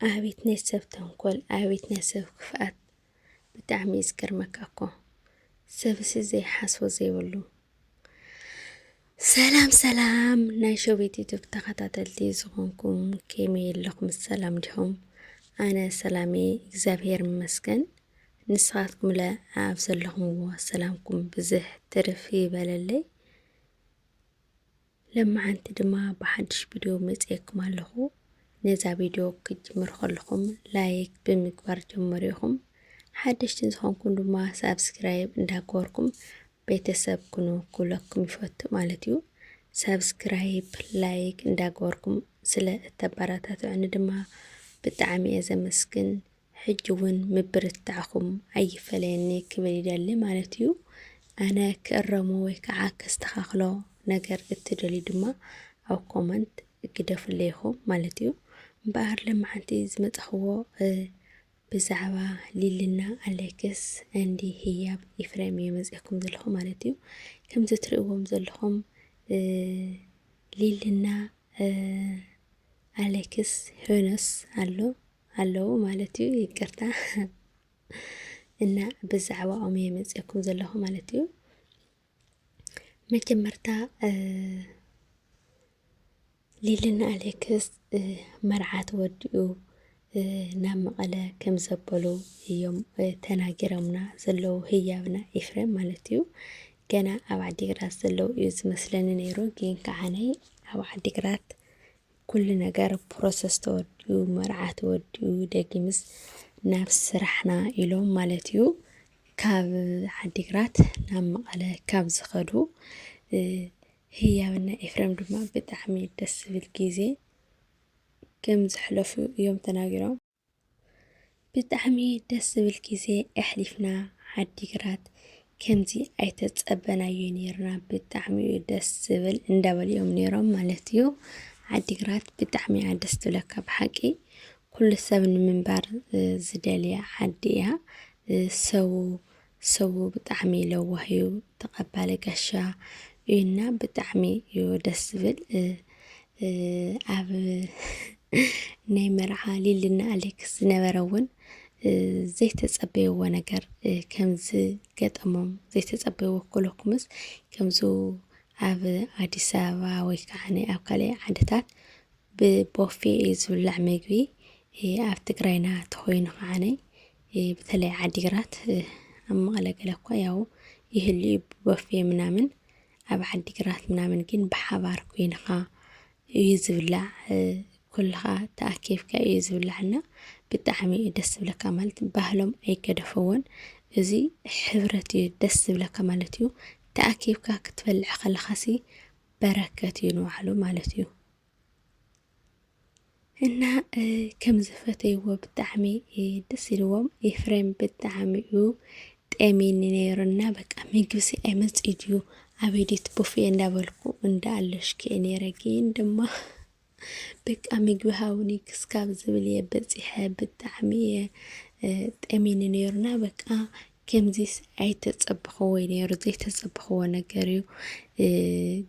ኣቤት ናይ ሰብ ተንኮል፣ ኣቤት ናይ ሰብ ክፍኣት ብጣዕሚ እዩ ዝገርመካ እኮ ሰብሲ ዘይሓስቦ ዘይብሉ። ሰላም ሰላም ናይ ሸቤት ዩቱብ ተኸታተልቲ ዝኾንኩም ከመይ ኣለኹም? ሰላም ዲኹም? ኣነ ሰላሜ እግዚኣብሄር ይመስገን። ንስኻትኩም ለ ኣብ ዘለኹምዎ ሰላምኩም ብዝሕ ትርፍ ይበለለይ። ለማዓንቲ ድማ ብሓዱሽ ቪድዮ መፂኤኩም ኣለኩ ነዛ ቪድዮ ክትጅምሩ ከለኩም ላይክ ብምግባር ጀምሩ ኢኩም ሓደሽቲ ዝኮንኩም ድማ ሳብስክራይብ እንዳገበርኩም ቤተሰብ ኩኑ ክብለኩም ይፈቱ ማለት እዩ ሳብስክራይብ ላይክ እንዳገበርኩም ስለ እተበረታትዑኒ ድማ ብጣዕሚ እየ ዘመስግን ሕጂ ውን ምብርታዕኩም ኣይፈለየኒ ክብል ይደሊ ማለት እዩ። ኣነ ክእረሞ ወይ ከዓ ከስተኻኽሎ ነገር እትደልዩ ድማ ኣብ ኮመንት ግደፉለይ ኢኹም ማለት እዩ። እምበኣር ለማዓንቲ ዝመፃኽዎ ብዛዕባ ሊልና ኣሌክስ እንዲ ህያብ ኢፍሬም እየ መፅኤኩም ዘለኹ ማለት እዩ። ከምዚ ትርእዎም ዘለኹም ሊልና ኣሌክስ ሄኖስ ኣሎ ኣለዉ ማለት እዩ ይቅርታ እና ብዛዕባኦም እየ መፅኩም ዘለኹ ማለት እዩ መጀመርታ ሊልና ኣሌክስ መርዓት ወዲኡ ናብ መቐለ ከም ዘበሉ እዮም ተናጊሮምና ዘለዉ ህያብና ኤፍሬም ማለት እዩ ገና ኣብ ዓዲግራት ዘለዉ እዩ ዝመስለኒ ነይሩ ግን ከዓነይ ኣብ ዓዲግራት ኩሉ ነገር ፕሮሰስ ተወዲኡ መርዓ ተወዲኡ ደጊምስ ናብ ስራሕና ኢሎም ማለት እዩ ካብ ዓዲግራት ናብ መቐለ ካብ ዝኸዱ ህያብና ኤፍረም ድማ ብጣዕሚ ደስ ዝብል ግዜ ከም ዘሕለፉ እዮም ተናጊሮም። ብጣዕሚ ደስ ዝብል ግዜ ኣሕሊፍና ዓዲግራት ከምዚ ኣይተፀበናዮይ ነይርና ብጣዕሚ እዩ ደስ ዝብል እንዳበሉ እዮም ነይሮም ማለት እዩ። ዓዲግራት ብጣዕሚ እያ ደስ ትብለካ ብሓቂ ኩሉ ሰብ ንምንባር ዝደልያ ዓዲ እያ ሰቡ ሰቡ ብጣዕሚ ለዋህ እዩ ተቀባሊ ጋሻ እዩና ብጣዕሚ እዩ ደስ ዝብል ኣብ ናይ መርዓ ሊልና ኣሌክስ ዝነበረ እውን ዘይተጸበይዎ ነገር ከምዚ ገጠሞም ዘይተጸበይዎ ኮለኩምስ ከምዚ ኣብ ኣዲስ ኣበባ ወይ ከዓ ኣብ ካልእ ዓድታት ብቦፌ እዩ ዝብላዕ ምግቢ ኣብ ትግራይና ተኾይኑ ከዓነይ ብተለይ ዓዲግራት ኣብ መቐለ ገለ እኳ ያው ይህሉ እዩ ቦፌ ምናምን ኣብ ዓዲግራት ምናምን ግን ብሓባር ኮይንኻ እዩ ዝብላዕ ኩልኻ ተኣኪብካ እዩ ዝብላዕና ብጣዕሚ እዩ ደስ ዝብለካ ማለት ባህሎም ኣይገደፈዎን እዚ ሕብረት እዩ ደስ ዝብለካ ማለት እዩ ተኣኪብካ ክትበልዕ ከለኻሲ በረከት እዩ ንባዕሉ ማለት እዩ እና ከም ዝፈተይዎ ብጣዕሚ ደስ ኢልዎም ኤፍሬም ብጣዕሚ እዩ ጠሚኒ ነይሩ እና በቃ ምግብሲ ኣይመፅእ ድዩ ኣበይ ድዩ ቦፌ እንዳበልኩ እንዳ ኣለሽከ ነይረ ግን ድማ በቃ ምግቢ ሃውኒ ክስካብ ዝብል እየ በፂሐ ብጣዕሚ እየ ጠሚኒ ነይሩና በቃ ከምዚስ ኣይተጸበኽዎይ ነይሩ ዘይተጸበኽዎ ነገር እዩ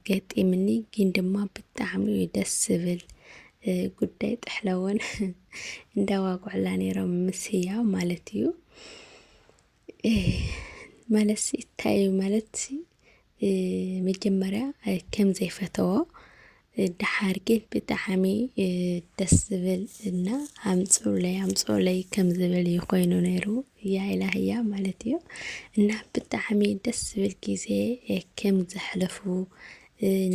ገጢምኒ ግን ድማ ብጣዕሚ እዩ ደስ ዝብል ጉዳይ ጥሕለወን እንዳዋጉዕላ ነይሮም ምስ ህያው ማለት እዩ ማለትሲ እታይ እዩ ማለት መጀመርያ ከም ዘይፈተዎ ደሓር ግን ብጣዕሚ ደስ ዝብል እና ኣምፅኡለይ ኣምፅኡለይ ከም ዝብል እዩ ኮይኑ ነይሩ እያ ኢላ ህያ ማለት እዩ እና ብጣዕሚ ደስ ዝብል ግዜ ከም ዘሕለፉ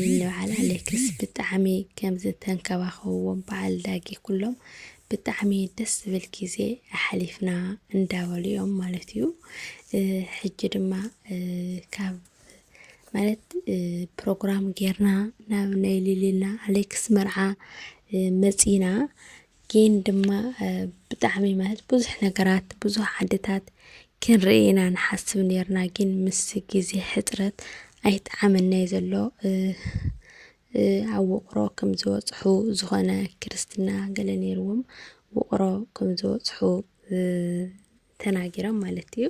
ንበዓል ኣሌክስ ብጣዕሚ ከም ዝተንከባኸብዎም በዓል ዳጊ ኩሎም ብጣዕሚ ደስ ዝብል ግዜ ኣሕሊፍና እንዳበሉ እዮም ማለት እዩ። ሕጂ ድማ ካብ ማለት ፕሮግራም ጌርና ናብ ናይ ሊሊና ኣሌክስ መርዓ መፂና ግን ድማ ብጣዕሚ ማለት ብዙሕ ነገራት ብዙሕ ዓድታት ክንርኢ ኢና ንሓስብ ነርና ግን ምስ ግዜ ሕፅረት ኣይጠዓመናይ ዘሎ ኣብ ውቕሮ ከም ዝበፅሑ ዝኾነ ክርስትና ገለ ነይርዎም ውቕሮ ከም ዝበፅሑ ተናጊሮም ማለት እዩ።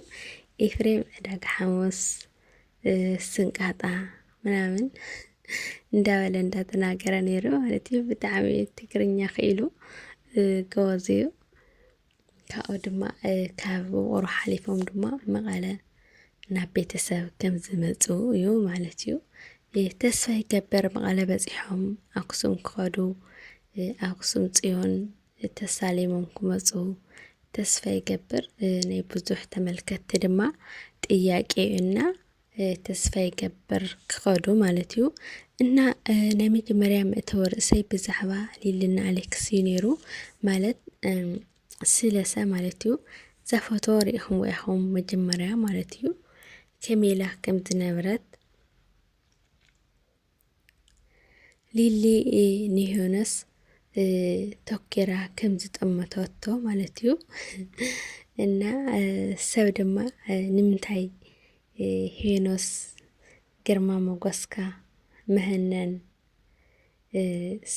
ኤፍሬም ዕዳጋ ሓሙስ ስንቃጣ ምናምን እንዳበለ እንዳተናገረ ነይሩ ማለት እዩ። ብጣዕሚ ትግርኛ ክኢሉ ጎበዝ እዩ። ካብኡ ድማ ካብ ውቕሮ ሓሊፎም ድማ መቐለ ናብ ቤተሰብ ከም ዝመፁ እዩ ማለት እዩ። ተስፋ ይገበር መቐለ በፂሖም ኣክሱም ክኸዱ ኣክሱም ፅዮን ተሳሊሞም ክመፁ ተስፋ ይገብር ናይ ብዙሕ ተመልከትቲ ድማ ጥያቄ እዩ እና ተስፋ ይገብር ክኸዱ ማለት እዩ እና ናይ መጀመርያ መእተወ ርእሰይ ብዛዕባ ሊልና ኣሌክስ እዩ ነይሩ ማለት ስለሰ ማለት እዩ እዛ ፎቶ ሪኢኹም ኢኹም መጀመርያ ማለት እዩ ከመይ ኢላ ከም ዝነበረት ሊሊ ንዮናስ ቶኪራ ከም ዝጠመተቶ ማለት እዩ እና ሰብ ድማ ንምንታይ ሄኖስ ግርማ ሞገስካ መህነን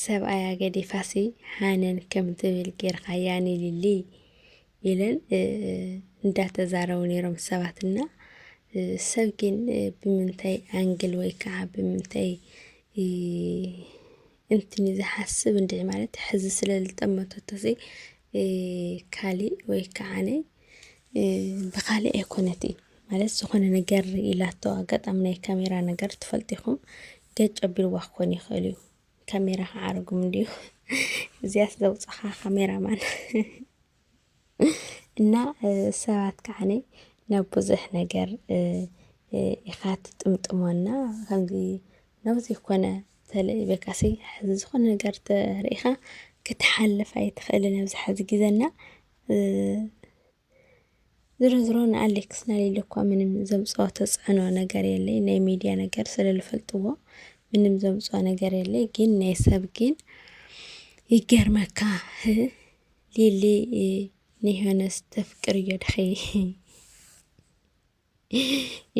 ሰብኣያ ገዲፋሲ ሃነን ከም ትብል ጌርካያ ንሊሊ ኢለን እንዳተዛረቡ ነይሮም ሰባት እና ሰብ ግን ብምንታይ ኣንግል ወይ ከዓ ብምንታይ እንትን እዩ ዝሓስብ እንድዒ ማለት ሕዚ ስለ ዝጠመተቶሲ ካሊእ ወይ ከዓነ ብኻሊእ ኣይኮነት እዩ ማለት ዝኾነ ነገር ኢላቶ ኣጋጣሚ ናይ ካሜራ ነገር ትፈልጢኹም ገጭ ኣቢልዋ ክኾን ይኽእል እዩ ካሜራ ክዓርጉም እንድዩ እዚኣስ ዘውፅኻ ካሜራማን እና ሰባት ከዓኒ ናብ ብዙሕ ነገር ኢኻ ትጥምጥሞና ከምዚ ናብ ዘይኮነ ተለኢበካሲ ሕዚ ዝኾነ ነገር ተርእኻ ክትሓልፍ ኣይትኽእልን ኣብዚ ሕዚ ግዘና ዝሮ ዝሮ ንኣሌክስ ናሊለ እኳ ምንም ዘምፅኦ ተፅዕኖ ነገር የለይ ናይ ሚዲያ ነገር ስለልፈልጥዎ ምንም ዘምፅኦ ነገር የለይ ግን ናይ ሰብ ግን ይገርመካ ህ ሊሊ እ፣ ንዮናስ ተፍቅር እዮ ድኸይ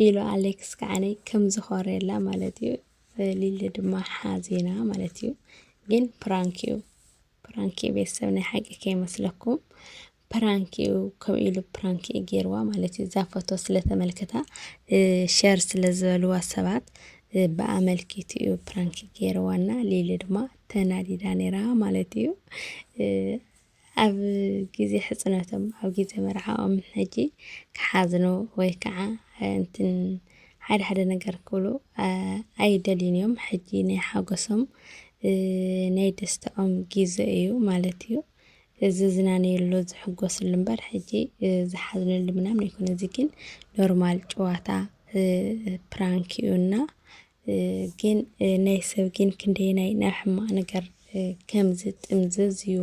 ኢሉ ኣሌክስ ከዓኒ ከም ዝኾርየላ ማለት እዩ ሊሊ ድማ ሓዜና ማለት እዩ ግን ፕራንክ እዩ ፕራንክ እዩ ቤተሰብ ናይ ሓቂ ከይመስለኩም ፕራንክ እዩ ከምኡ ኢሉ ፕራንክ እዩ ገይርዋ ማለት እዩ እዛ ፎቶ ስለተመልከታ ሸር ስለዝበልዋ ሰባት ብኣመልኪት እዩ ፕራንክ ገይርዋና ሊሊ ድማ ተናዲዳ ነይራ ማለት እዩ ኣብ ግዜ ሕጽኖቶም፣ ኣብ ግዜ መርዓኦም ሕጂ ክሓዝኑ ወይ ከዓ እንትን ሓደ ሓደ ነገር ክብሉ ኣይደልዩን እዮም። ሕጂ ናይ ሓጎሶም ናይ ደስታኦም ግዜ እዩ ማለት እዩ። ዝዝናነየሉ ዝሕጎስሉ እምበር ሕጂ ዝሓዝነሉ ምናምን ኣይኮነ። እዚ ግን ኖርማል ጨዋታ ፕራንክ እዩና ግን ናይ ሰብ ግን ክንደየናይ ናብ ሕማቅ ነገር ከም ዝጥምዘዝ እዩ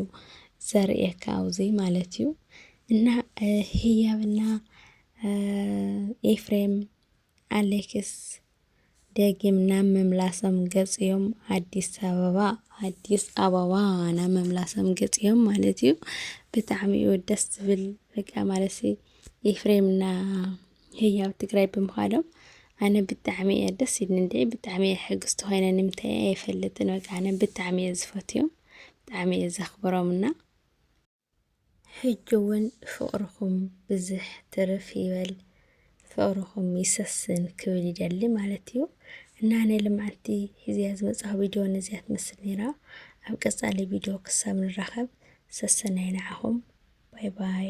ዘርእየካ ኣብዙይ ማለት እዩ እና ህያብና ኤፍሬም ኣሌክስ ደጊም ናብ መምላሶም ገጽዮም ኣዲስ ኣበባ ኣዲስ ኣበባ ናብ መምላሶም ገጽዮም ማለት እዩ። ብጣዕሚ እዩ ደስ ዝብል በቃ ማለት ኤፍሬምና ህያው ትግራይ ብምዃዶም ኣነ ብጣዕሚ እየ ደስ ኢልኒ እንድዒ ብጣዕሚ እየ ሕግስቲ ኮይነ ንምንታይ እየ ኣይፈልጥን በቃ ኣነ ብጣዕሚ እየ ዝፈትዮም ብጣዕሚ እየ ዘኽብሮም እና ሕጂ እውን ፍቕርኹም ብዝሕ ትርፍ ይበል ፍቕርኹም ይሰስን ክብል ይደሊ ማለት እዩ እና ናይ ልምዓቲ ሒዝያ ዝመፅኣ ቪድዮ ነዚያ ትመስል ነይራ ኣብ ቀፃሊ ቪድዮ ክሳብ ንራኸብ ሰሰናይ ንዓኹም ባይ ባይ